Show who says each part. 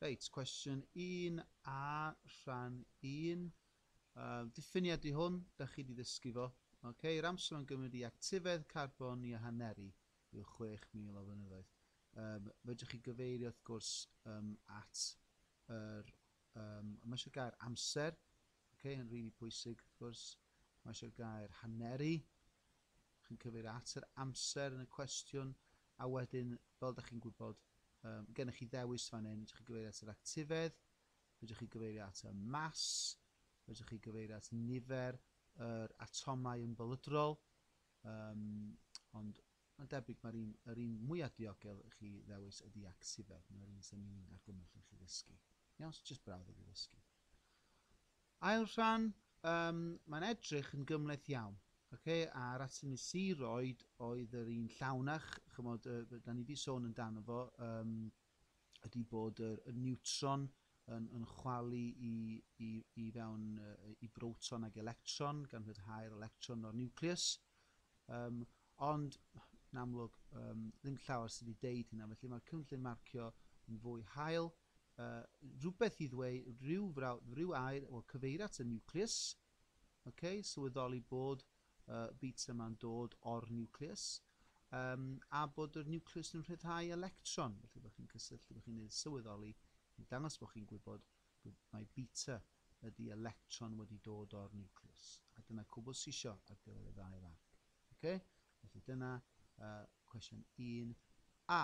Speaker 1: Reit, cwestiwn 1 a rhan 1. Uh, diffiniad i hwn, da chi wedi ddysgu fo. Okay, yr amser o'n gymryd i actifedd carbon i a haneru yw 6,000 o flynyddoedd. Um, fedrwch chi gyfeirio wrth gwrs um, at yr, um, mae eisiau gair amser, okay, yn rili really pwysig wrth gwrs, mae eisiau gair haneru, chi'n cyfeirio at yr amser yn y cwestiwn, a wedyn, fel ydych chi'n gwybod, um, gennych chi ddewis fan hyn, ydych chi'n gyfeirio at yr actifedd, ydych chi'n gyfeirio at y mas, ydych chi'n gyfeirio at nifer yr atomau yn bylydrol, um, ond mae'n debyg mae'r un, yr un mwyaf diogel i chi ddewis ydy actifedd, mae'r un sy'n ni'n argymell i chi ddysgu. Iawn, so jyst brawd i chi ddysgu. Ail rhan, yym, mae'n edrych yn gymhleth iawn, ocê, a'r atyn ni sy roid oedd yr un llawnach, chymod, yy, da ni wedi sôn amdano fo, yym, ydy bod yr, y niwtron yn, yn chwalu i, i, i fewn yy, i broton ag electron, gan rhyddhau'r electron o'r niwcleus, um, ond yn amlwg um, ddim llawer sydd wedi deud hynna, felly mae'r cynllun marcio yn fwy hael, rhywbeth i ddweu, rhyw frawd, rhyw air, wel cyfeir at y niwcleus, ok, sylweddoli bod y bits yma'n dod o'r niwcleus, um, a bod yr niwcleus yn rhyddhau electron, felly bod chi'n cysylltu, bod chi'n ei sylweddoli, i dangos bod chi'n gwybod bod mae beta ydy electron wedi dod o'r niwcleus. A dyna cwbl sisio ar gyfer y ddau farc. Okay? Felly dyna uh, cwestiwn 1a.